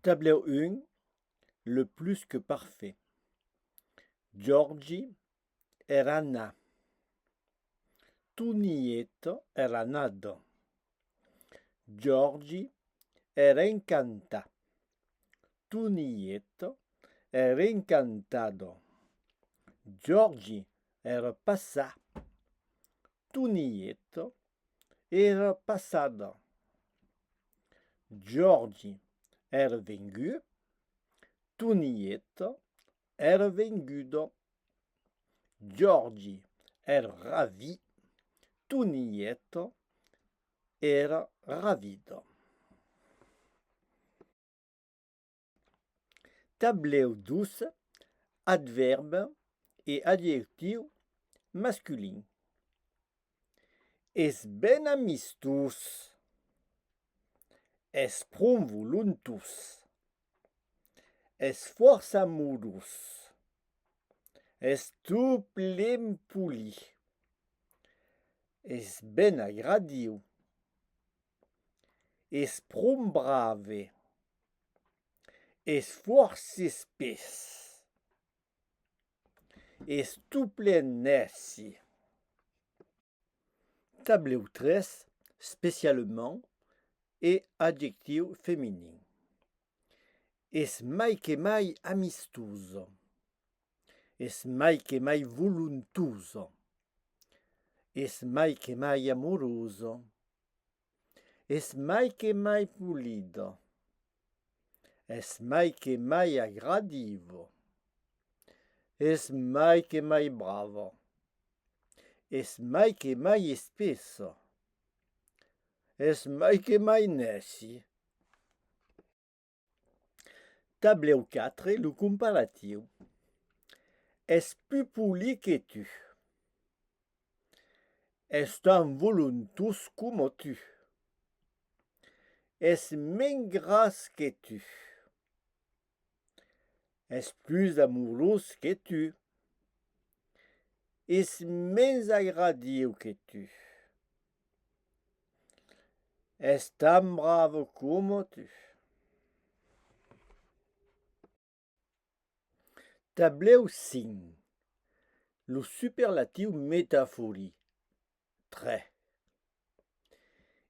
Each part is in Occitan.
Tablèu 1, Le plus que parfait. Giorgi era na. Tonieta era nada. Giorgi era encanta. Tonieta era encantada. Giorgi era passar. Tonieta èra passada. Jòrgi èra vengut. Tonieta èra venguda. Jòrgi èra ravit. Tonieta èra ravida. Tablèu 2, Advèrb e adjectiu masculin. Es ben amistós. Es pron volontós. Es fòrça modós. Es tot plen poli. Es ben agradiu. es pron brave, es fòrça espés, es tot plen nèci. Tablèu 3, Specialement e adjectiu feminin Es mai que mai amistosa, es mai que mai volontosa, es mai que mai amorosa. Es mai que mai polida. Es mai que mai agradiva. Es mai que mai brava. Es mai que mai espessa. Es mai que mai nèci. Tablèu 4, lo comparatiu. Es pu poli que tu. Es tan volontós coma tu. Es mens gras que tu. Es plus amorós que tu. Es mens agradiu que tu. Es tan bravo como tu. Tablèu 5. Lo superlatiu metaforic, 3.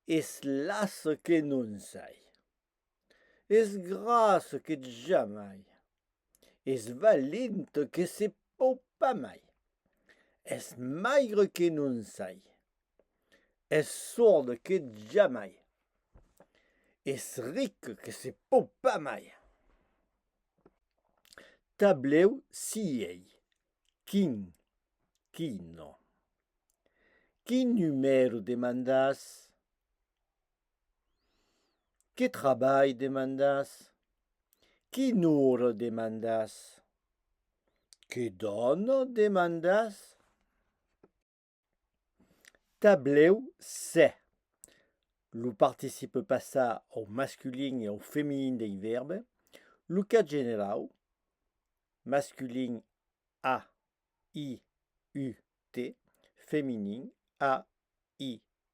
Es las que non sai. Es gras que jamai. Es valent que se pòu pas mai. Es maigre que non sai. Es sòrd que jamai. Es ric que se pòu pas mai. Tablèu siei, quin, quino. Quin numèro demandàs? Que trabalh demandas? Qui nour demandas? Que dòna demandas? Tablèu 7 lo participe passat au masculin e au feminin dei vèrbe lo cas generau masculin a i u t feminin a i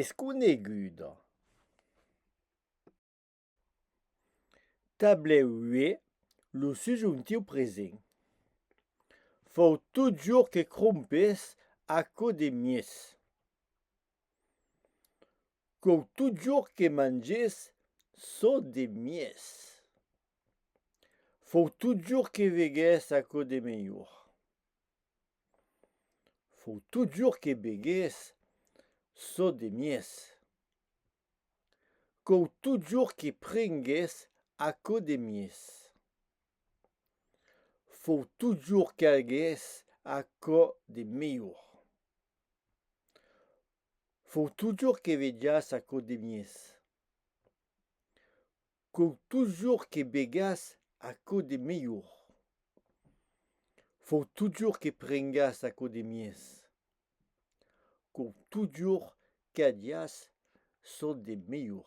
es coneguda. Tablèu ue lo subjuntiu present fòu totjorn que crompes aquò de mies. Còu totjorn que manges çò de mies. Fòu totjorn que vegues aquò de melhor. Fau totjorn que begués çò de mies. Cau totjorn que prengués aquò de mies. Fau totjorn qu'agués aquò de melhor. Fau totjorn que vejàs aquò de mies. Com totjorn que begas aquò de melhor. Fau totjorn que prengas aquò de mies. Com totjorn qu'adias çò de melhor.